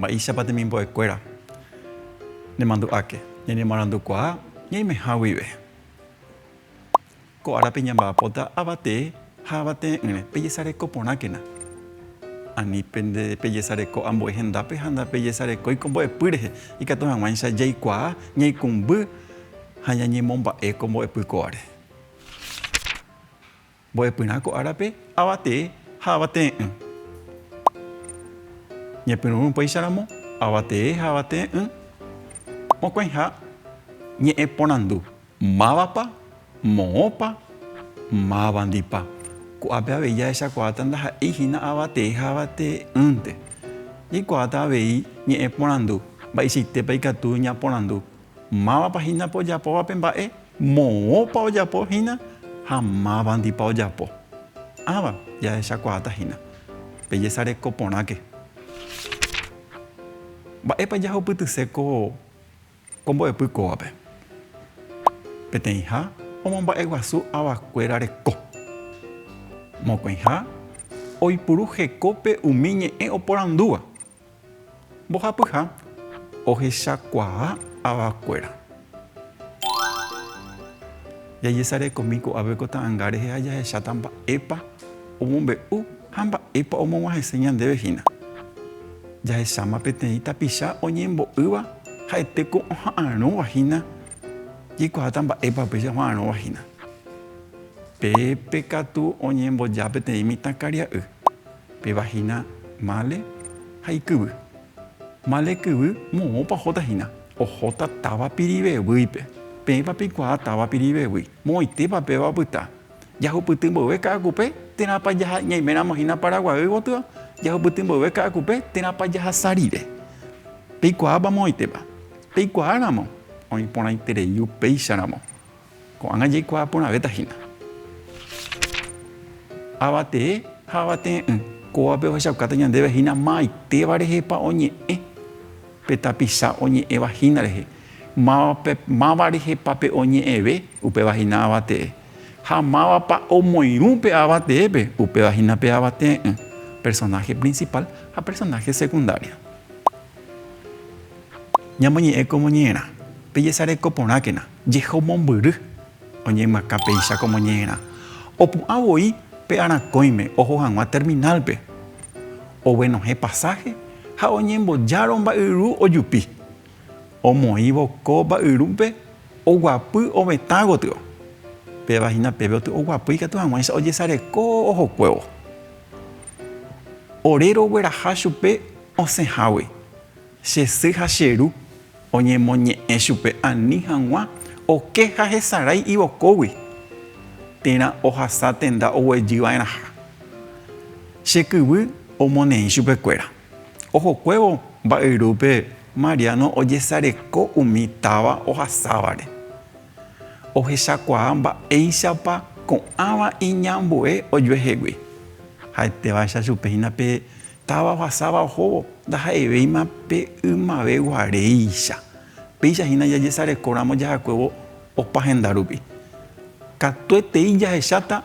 Mba'éichapa temimbo'ekuéra nemandu'áke ñañemoarandukuaa ñaimeha guive? Ko árape ñamba'apóta avatee ha avatee'ỹre. Pejesareko porãkena. Ani pende pejesareko ambue hendápe ha ndapejesarekói ko mbo'epy rehe, ikatu hag̃uáicha jaikuaa ñaikumby ha ñañemomba'e ko mbo'epy kóvare. Mbo'epyrã ko árape avatee ha avatee'ỹ. Ñepyrũrũ upéicharamo avatee ha avatee'ỹ, mokõiha ñe'ẽ porandu, Mávapa? Moõpa? Mávandipa? Ko'ápe avei jahechakuaáta ndaha'éi hína avatee ha avatee'ỹnte. Jaikuaáta avei ñe'ẽ porandu, Mba'eichaitépa ikatu ñaporandu Mávapa hína pe ojapóva pe mba'e, moõpa ojapo hína ha mávandipa ojapo. Ãva jahechakuaáta hína. Pejesareko porãke. Mba'épa jahupytyse ko mbo'epy kóvape? Peteĩha omomba'eguasu avakuéra reko. Mokõiha oipuru hekópe umi ñe'ẽ oporandúva. Mbohapyha ohechakuaa avakuéra. Jajesarekomi ko'ápe ko ta'anga rehe ha jahecháta mba'épa omombe'u ha mba'épa omog̃uahẽse ñandéve hína. Jahecháma peteĩ tapicha oñembo'ýva ha'ete ko oha'arõva hína, jaikuaáta mba'épa upéicha oha'arõva hína. Pépe katu oñemboja peteĩ mitãkaria'y. Péva hína Male ha ikyvy. Male kyvy moõpa ohóta hína. Ohóta táva Pirivevýipe. Peẽpa peikuaa táva Pirivevýi. Moõitépa péva opyta. Jahupyty mboyve Ka'akupe térãpa jaha ñaiméramo hína Paraguaýgui gotyo, jahupyty mboyve Ka'akupe térãpa jahasa rire. Peikuaápa moõitépa. Peikuaáramo oĩ porãiterei upéicharamo. Ko'ág̃a jaikuaa porãvéta hína. Avatee ha avatee'ỹ, kóvape ohechaukáta ñandéve hína ma'aitéva rehepa oñe'ẽ pe tapicha oñe'ẽva hína rehe, mávape, máva rehepa pe oñe'ẽve, upéva hína avatee, ha mávapa omoirũ pe avateépe, upéva hína pe avatee'ỹ, personaje principal ha personaje secundario. Ñamoñe'ẽ komo ñe'ẽrã, pejesareko porãkena. Jehomombyry, oñeymyaka péicha komo ñe'ẽrã, opu'ã voi pe arakõime oho hag̃ua terminálpe, oguenohẽ pasáhe ha oñembojárõ mba'yru ojupi. Omoĩvo ko mba'yrúpe oguapy ovetã gotyo. Péva hína peve oty oguapy ikatu hag̃uáicha ojesareko ohokuévo. Ore rogueraha chupe osẽhágui, che sy ha che ru. Oñemoñe'ẽ chupe ani hag̃ua oke ha hesarái ivokógui, térã ohasa tenda oguejy va'erãha. Che kyvy omoneĩ chupekuéra. Ohokuévo mba'yrúpe Mariano ojesareko umi táva ohasávare. Ohechakuaa mba'éichapa ko'ãva iñambue ojuehegui. Ha'etévacha chupe hína pe Táva ohasáva ohóvo ndaha'evéima pe ymave guaréicha. Péicha hína jajesarekóramo jahakuévo opa henda rupi. Katuetei jahecháta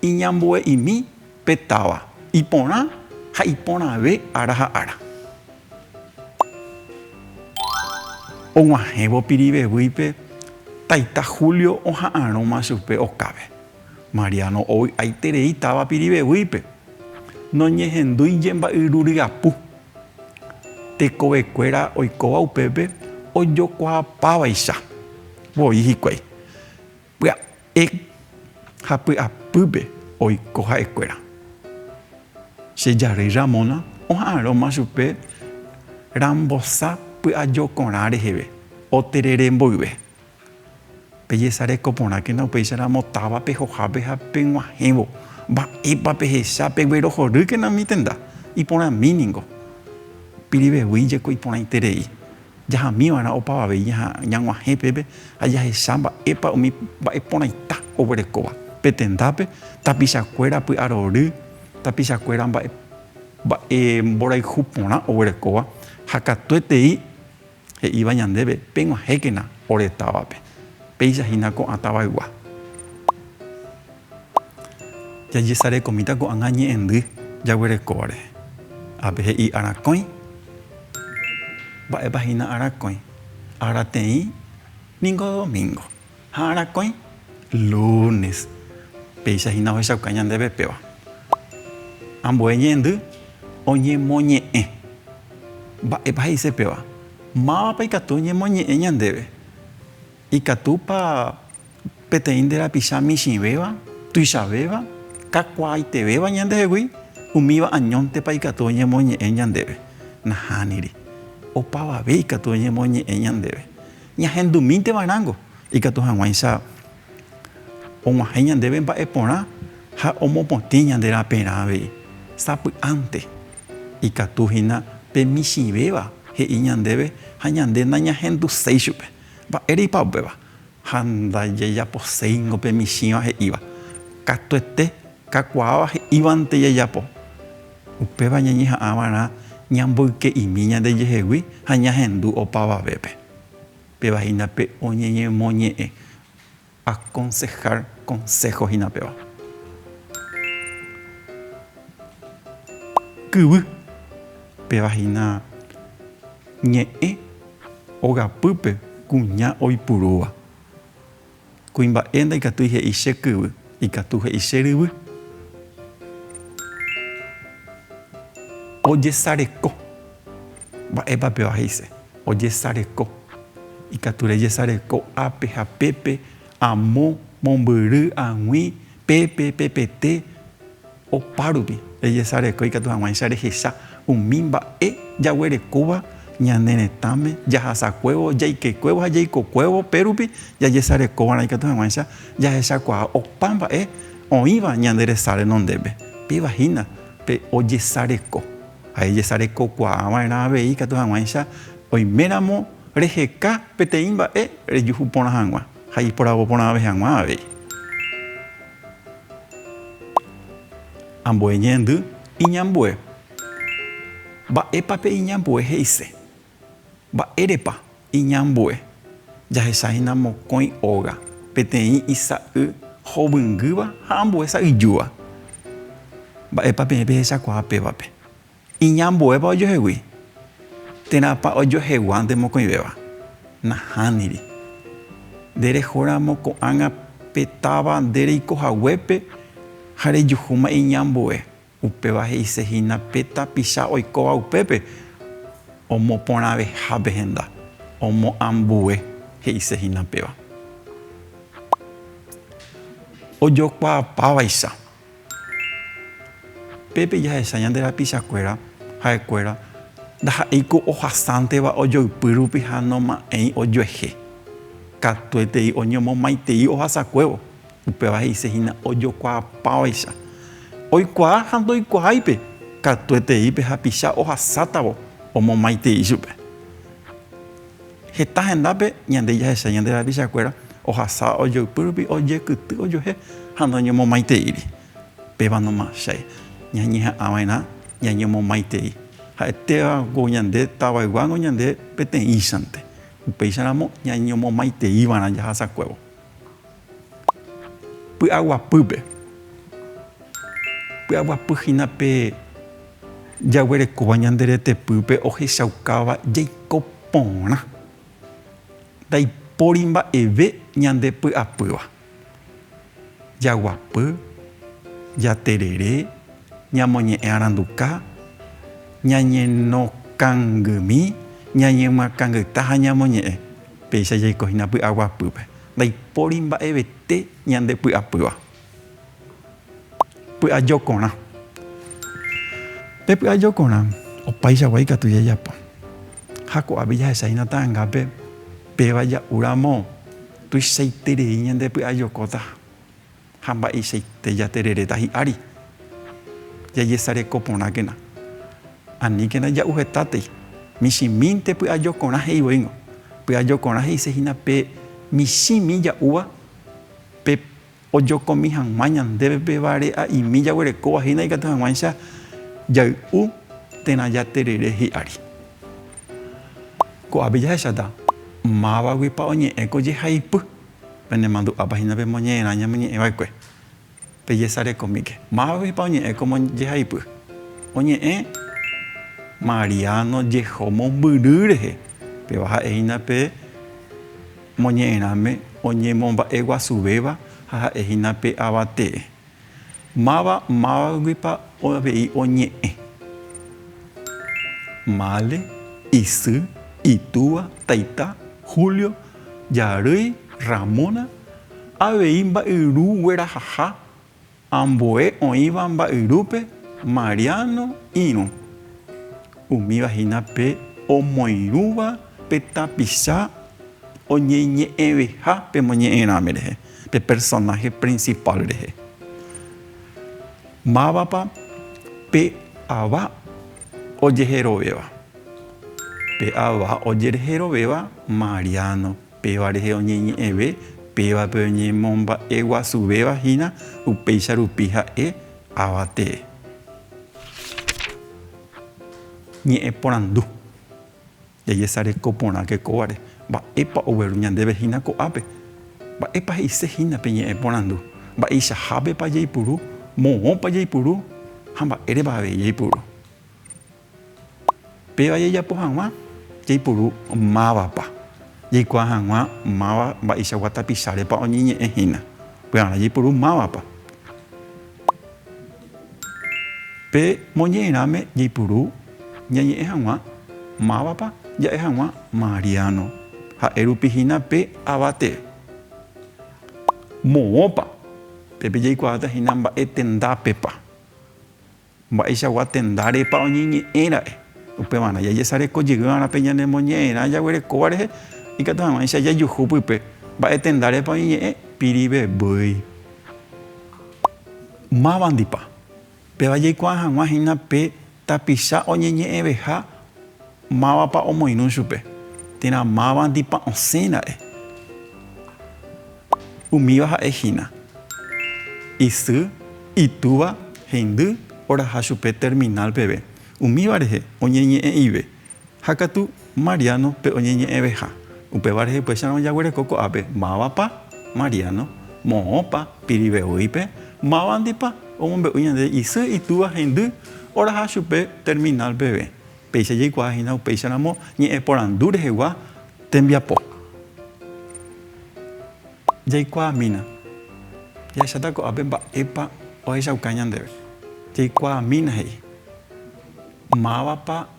iñambue'imi pe táva, iporã ha iporãve ára ha ára. Oguahẽvo Pirivevýipe, taita Julio oha'arõma chupe okápe. Mariano ovy'aiterei táva Pirivevýipe, noñehendúi jemba'yru ryapu. Tekovekuéra oikóva upépe ojokuaapávaicha voi hikuái, pya'e ha py'apýpe oiko ha'ekuéra. Che jarýi Ramona oha'arõma chupe rambosa py'ajokorã reheve, oterere mboyve. Pejesareko porãkena upéicha ramo távape, hohápe ha peg̃uahẽvo. Mba'épa pehecha? Peguerohorýkena umi tenda iporãmi ningo. Pirivevýi jeko iporãiterei, jahami va'erã opavave ñag̃uahẽ pépe ha jahecha mba'épa umi mba'e porãita oguerekóva pe tendápe, tapicha kuéra py'arory, tapicha kuéra mba'e mborayhu porã oguerekóva ha katuetei He'íva ñandéve, Peg̃uahẽkena ore távape, péicha hína ko'ã tavaygua. Jajesarekomíta ko'ág̃a ñe'ẽndy jaguerekóvare. Ápe he'i arakõi. Mba'épa hína arakõi? Ára teĩ ningo domíngo. Ha arakõi, lúnes, péicha hína ohechauka ñandéve péva. Ambue ñe'ẽndy oñemoñe'ẽ. Mba'épa he'ise péva? Mávapa ikatu oñemoñe'ẽ ñandéve? Ikatúpa peteĩ nde rapicha michĩvéva, tuichavéva, kakuaaitevéva ñandehegui? Umíva añóntepa ikatu oñemoñe'ẽ ñandéve? Nahániri. Opavave ikatu oñemoñe'ẽ ñandéve. Ñahendumínteva rãngo, ikatu hag̃uáicha og̃uahẽ ñandéve mba'e porã ha omopotĩ ñande raperã avei. Sapy'ánte ikatu hína pe michĩvéva he'i ñandéve ha ñande nañahenduséi chupe. Mba'éreipa upéva? Ha ndajajaposéingo pe michĩva he'íva. Katuete kakuaáva he'ívante jajapo. Upéva ñañeha'ã va'erã ñamboyke'imi ñandejehegui ha ñahendu opavavépe. Péva hína pe oñeñemoñe'ẽ, aconsejar, consejo hína péva. Kyvy, péva hína ñe'ẽ ogapýpe kuña oipurúva. Kuimba'e ndaikatúi he'i che kyvy, ikatu he'i che ryvy. Ojesareko. Mba'épa péva he'ise ojesareko? Ikatu rejesareko ápe ha pépe, amo, mombyry, ag̃ui, Pe pepepete opárupi rejesareko ikatu hag̃uáicha rehecha umi mba'e jaguerekóva ñane retãme jahasakuévo, jaikekuévo ha jaikokuévo pérupi jajesarekova'erã ikatu hag̃uáicha jahechakuaa opa mba'e oĩva ñande resa renondépe. Péva hína pe ojesareko ha ejesarekokuaava'erã avei ikatu hag̃uáicha oiméramo reheka peteĩ mba'e rejuhu porã hag̃ua. ha iporavo porãve hag̃ua avei. Ambue ñe'ẽndy iñambue. Mba'épa pe iñambue he'ise? Mba'érepa iñambue? Jahechahína mokõi óga, peteĩ isa'y hovyngýva ha ambue sa'yjúva. Mba'épa peẽ pehechakuaa pévape? Iñambuépa ojohegui, térãpa ojohegua nde mokõivéva? Nahániri. Nde rehóramo ko'ág̃a pe táva nde reiko haguépe ha rejuhúma iñambue, upéva he'ise hína pe tapicha oikóva upépe, omoporãvehápe henda, omoambue, he'ise hína péva. Ojokuaapávaicha, Pépe jahecha ñande rapichakuéra ha'ekuéra ndaha'éiko ohasánteva ojoypy rupi ha noma'ẽi ojuehe. Katuetei oñomomaitei ohasakuévo, upéva he'ise hína ojokuaapávaicha. Oikuaa ha ndoikuaáipe, katuetei pe hapicha ohasátavo omomaitei chupe. Heta hendápe ñande jahechái ñande rapichakuéra ohasa ojoypy rupi ojekyty ojuehe ha ndoñomomaiteíri. Pévanoma che ñañeha'ãva'erã ñañomomaitei ha'etévagui ñande tavayguágui ñande peteĩchante, upéicharamo ñañomomaiteíva'erã jahasakuévo. Py'aguapýpe. Py'aguapy hína pe jaguerekóva ñande retepýpe ohechaukáva jaiko porã. Ndaipóri mba'eve ñande py'apýva. Jaguapy, jaterere, ñamoñe'ẽ aranduka, ñañenokangimi, ñañemyakãngyta ha ñamoñe'ẽ. Péicha jaiko hína py'aguapýpe. Ndaipóri mba'evete ñande py'apýva. Py'ajokorã. Pe py'ajokorã, opaichagua ikatu jajapo. Ha ko'ápe jahecha hína ta'angápe péva ja'úramo tuichaiterei ñande py'ajokóta. Ha mba'eichaite jatereréta hi'ári, jajesareko porãkena, aníkena ja'u hetátei, michĩmínte py'ajokorã he'ivoíngo, py'ajokorã he'ise hína pe michĩmi ja'úva pe ojokomi hag̃ua ñandéve pe vare'a'imi jaguerekóva hína ikatu hag̃uáicha jay'u térã jaterere hi'ári. Ko'ápe jahecháta mávagui pa oñe'ẽ ko jehaipy. Penemandu'ápa hína pemoñe'ẽrã ñamoñe'ẽ va'ekue, pejesarekomíke. Mávapepa oñe'ẽ kómo jehaipy? Oñe'ẽ Mariano jeho mombyry rehe, péva ha'e hína pe moñe'ẽrãme oñemomba'eguasuvéva ha ha'e hína pe avate'e. Máva mávaguipa avei oñe'ẽ? Mále, isy, itúva, taita, Julio, jarýi, Ramona, avei mba'yru guerahaha, ambue oĩva mba'yrúpe, Mariano, irũ. Umíva hína pe omoirũva pe tapicha oñeñe'ẽveha pe moñe'ẽrãme rehe. Pe personaje principal rehe. Mávapa pe ava ojeherovéva? Pe ava ojerejerovéva Mariano, péva rehe oñeñe'ẽve pévape oñemomba'eguasuvéva hína upéicha rupi ha'e ava tee. Ñe'ẽporandu. Jajesareko porãke kóvare, mba'épa ogueru ñandéve hína ko'ápe? Mba'épa he'ise hína pe ñe'ẽ porandu? Mba'eichahápepa jaipuru? Moõpa jaipuru? Ha mba'érepa avei jaipuru? Péva jajapo hag̃ua jaipuru mávapa jaikuaa hag̃ua máva mba'eichagua tapichárepa oñeñe'ẽ hína. Pya'arã jaipuru mávapa. Pe moñe'ẽrãme jaipuru ñañe'ẽ hag̃ua mávapa ja'e hag̃ua Mariano, ha'e rupi hína pe ava tee. Moõpa pe jaikuaáta hína mba'e tendápepa, mba'eichagua tendárepa oñeñe'ẽ ra'e. Upevarã jajesareko jey va'erã pe ñane moñe'ẽrã jaguerekóva rehe, ikatu hag̃uáicha jajuhu pype mba'e tendárepa oñeñe'ẽ pirivevýi. Mávandipa péva jaikuaa hag̃ua hína pe tapicha oñeñe'ẽveha mávapa omoirũ chupe, térã mávandipa osẽ ra'e. Umíva ha'e hína, isy, itúva, hendy, oraha chupe terminal peve. Umíva rehe, oñeñe'ẽ'ive. Ha katu, Mariano, pe oñeñe'ẽveha. Upéva rehe upéicharõ jaguereko ko'ápe, mávapa, Mariano, moõpa, pirive'oípe, mávandipa, omombe'u ñande isy, itúva, hendy, oraha chupe terminal peve. Péicha jaikuaa hína upéicharamo ñe'ẽporandu rehegua tembiapo. Jaikuaamína, jahecháta ko'ápe mba'épa ohechauka ñandéve. Jaikuaamína he'i, mávapa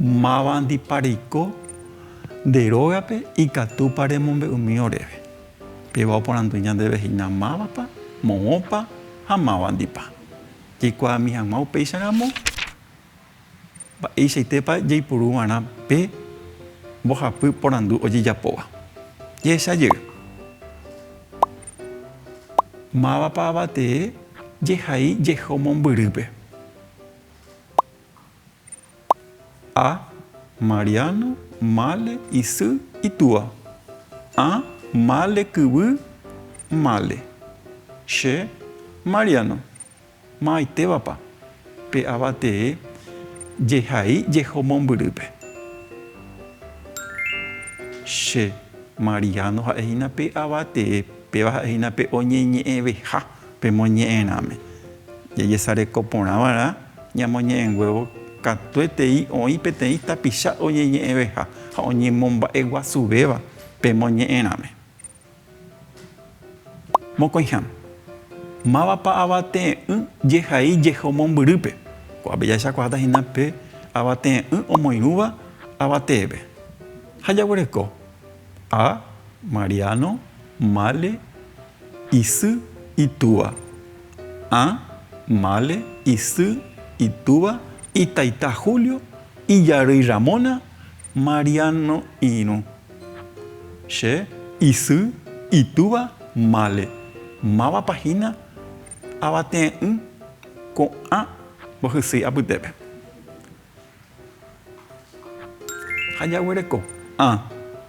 Mávandipa reiko nde rógape ikatúpa remombe'umi oréve? Péva oporandu ñandéve hína mávapa, moõpa ha mávandipa. Jaikuaami hag̃ua upéicha ramo mba'eichaitépa jaipuru va'erã pe mbohapy porandu ojejapóva. Jehecha jey. Mávapa avatee jehai jeho mombyrýpe? A, Mariano mále isy itúa. A, mále kyvy mále. Che, Mariano, ma'aitévapa pe ava tee jehai jeho mombyrýpe. Che, Mariano ha'ehína pe ava tee, péva ha'ehína pe oñeñe'ẽveha. Pemoñe'ẽrãme, jajesareko porã va'erã ñamoñe'ẽnguévo katuetei oĩ peteĩ tapicha oñeñe'ẽveha ha oñemomba'eguasuvéva pemoñe'ẽrãme. Mokõiha, mávapa avate'ỹ jehai jeho mombyrýpe? Ko'ápe jahechakuaáta hína pe avate'ỹ omoirũva avateépe. Ha jaguereko, A. Mariano, Male, Isy itúva. A. Male, isy itúva, itaita Julio, ijarýi Ramona, Mariano irũ. Che, isy itúva Male, mávapa hína avate'ỹ ko'ã mbohysýi apytépe. Ha jaguereko. A.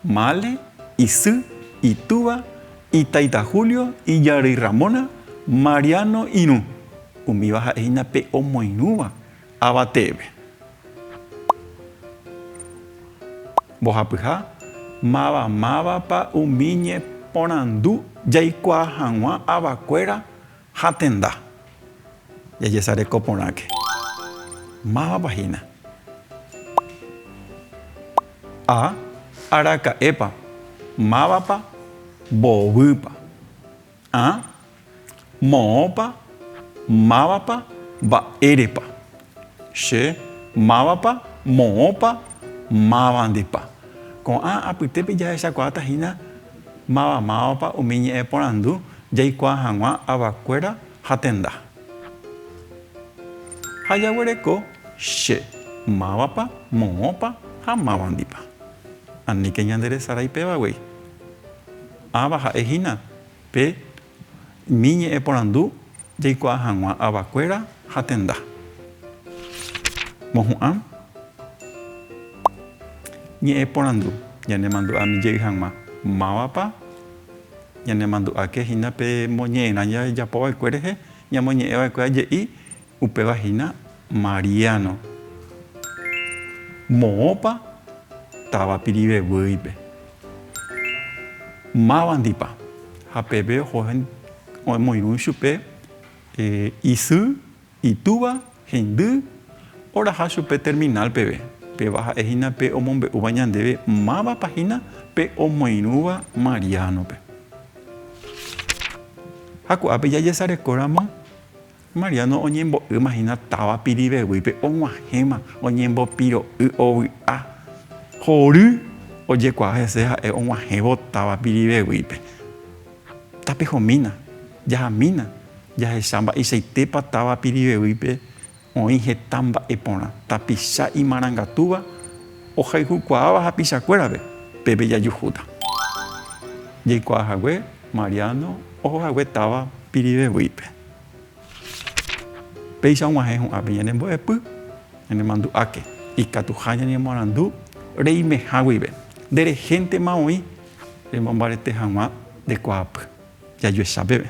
Male, isy, itúva, itaita Julio, ijarýi Ramona, Mariano irũ. Umíva ha'e hína pe omoirũva ava teépe. Mbohapyha, Máva mávapa umi ñeporandu jaikuaa hag̃ua avakuéra Ha tenda. Jajesareko porãke. Mávapa hína. A. Araka'épa. Mávapa. Mbovýpa. A. Moõpa. Mávapa. Mba'érepa. Che. Mávapa. Moõpa. Mávandipa. Ko'ã apytépe jahechakuaáta hína. Mavamáva umi ñe'ẽporandu jaikuaa hag̃ua avakuéra ha tenda. Ha jaguereko che, mávapa, moõpa ha mávandipa. Aníke ñande resarái péva guei. Ãva ha'e hína pe Umi ñe'ẽporandu jaikuaa hag̃ua avakuéra ha tenda. Mohu'ã ñe'ẽporandu ñanemandu'ami jey hag̃ua mávapa ñanemandu'áke hína pe moñe'ẽrã jajapova'ekue rehe, ñamoñe'ẽva'ekue aje'i, Upéva hína Mariano, moõpa táva Piriveguýipe, mávandipa, ha peve oho omoirũ ichupe isy, itúva, hendy, oraha chupe terminal peve, péva ha'e hína pe omombe'úva ñandéve mávapa hína pe omoirũva Mariano-pe. Ha ko'ápe jajesarekóramo. Mariano oñembo'ýma hína táva piriveguípe og̃uahẽma oñembopiro'y ovy'a. Hory ojekuaa hese ha'e og̃uahẽvo táva piriveguípe. Tapehomína, jahamína, jahecha mba'eichaitépa táva piriveguípe oĩ heta mba'e porã, tapicha imarangatúva ohayhukuaáva hapichakuérape, pépe jajuhúta. Jaikuaahague Mariano oho hague táva piriveguípe. Péicha og̃uahẽ hu'ãve ñanembo'epy, ñanemandu'áke ikatuha ñañemoarandu reimeha guive. Nde rehéntema oĩ remombarete hag̃ua nde kuaapy, jajuecha peve.